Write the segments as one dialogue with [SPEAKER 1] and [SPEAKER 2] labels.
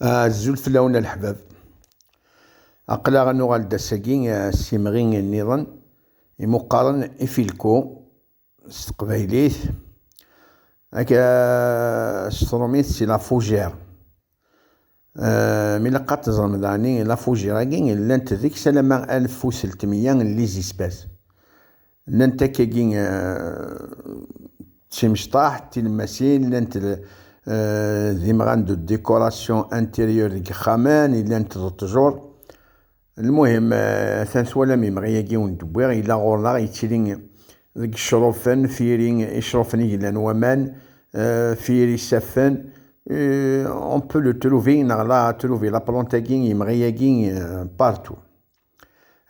[SPEAKER 1] Azul fell-awen a leḥbab. Aql-aɣ ad nuɣal-d ass-agi s yimɣi nniḍen imuqaren ifilku s teqbaylit ak s trumit si la fougère. Mi ilaq ad teẓrem daɣni la fougère-agi llant deg-s alamma alef u seltmeyya n les espèces. Llant akkagi d timecṭaḥ, d tilemmasin, llant d imɣan d décoration intérieure deg yexxamen, llant d ṭṭjur. Lmuhim, atan twalam imɣi-agi i wen-d-wwiɣ, yella ɣur-neɣ, yettili deg yecrufen, f yiri icrufen i yellan waman, f yiri isaffen, on peut le trouver, neɣ la trouver, la plante-agi, imɣi-agi partout.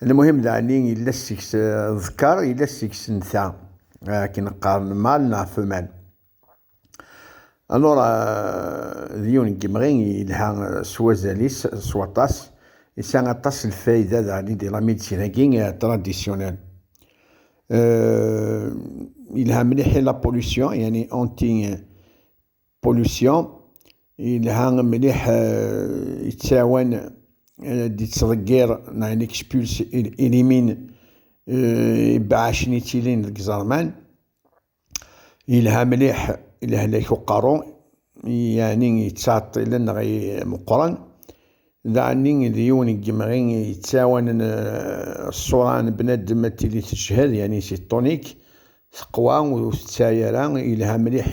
[SPEAKER 1] Lmuhim daɛni yella seg-s ḍker, yella seg-s nta, akken qqaren mal neɣ femelle. Alors, d yiwen n yemɣi yelha s wazal-is, s waṭas, yesɛa aṭas n lfayda daɛni di la médecine-agi traditionnelle. Yelha mliḥ i la pollution, yani anti pollution yelha mliḥ yettɛawan d-yettḍeggir neɣ il expulse il élimine ibeɛɛacen yettilin deg iẓerman yelha mliḥ i lehlak uqerru yeɛni yettɛeṭṭilen neɣ meqqren D ɛni d yiwen n yemɣi i yettɛawanen ṣṣura n bnadem ad tili tejhed, yani c'est tonique, teqwa, ur tettɛi ara, yelha mliḥ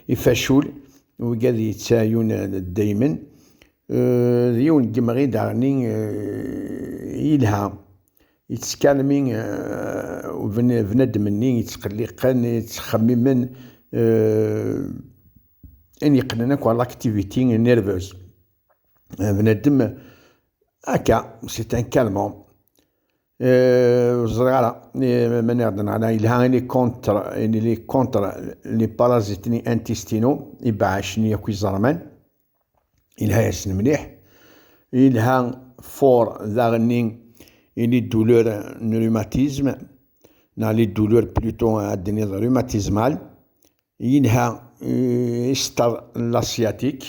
[SPEAKER 1] i facul, wigi ad yettɛiun daymen. D yiwen n yemɣi daɣen yelha, yettkalmi bnadem-nni yettqelliqen, yettxemmimen, ayen yeqqnen akk à l'activité nerveuse. eh, bnadem akka c'est un calmant eh, ur ẓriɣ ara eh, ma niɣ-d neɣna yelha ini contre ini li contre les parasites ni intestinaux ibeɛɛacen-nni akk iẓerman yelha-yasen mliḥ yelha fort daɣenni ili douleur n rhumatisme neɣ li douleur plutôt ad d-niniḍ rhumatismal yelha isteṛ l'asiatique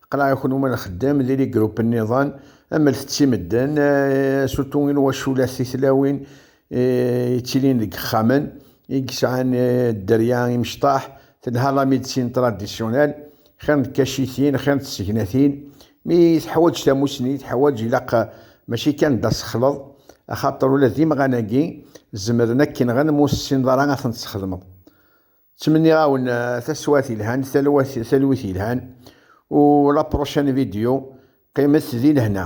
[SPEAKER 1] Qleɛ-akun uma d axeddam di ligrup nniḍen, amlet-tt i medden, surtout i lwaculat titlawin yettilin deg yexxamen, i yesɛan dderya imecṭaḥ, telha la médecine traditionnelle, xir n tkacitin, xir n tsegnatin, mi teḥwaǧ tamusni, teḥwaǧ ilaq mačči kan d asexleḍ, axaṭer ula d imɣan-agi zemren ad k-nɣen m'ur tessineḍ ara ad ten-tesxedmeḍ. Ttmenniɣ-awen taswat yelhan, talwat, talwit yelhan, u la prochaine vidéo, qqimet di lehna.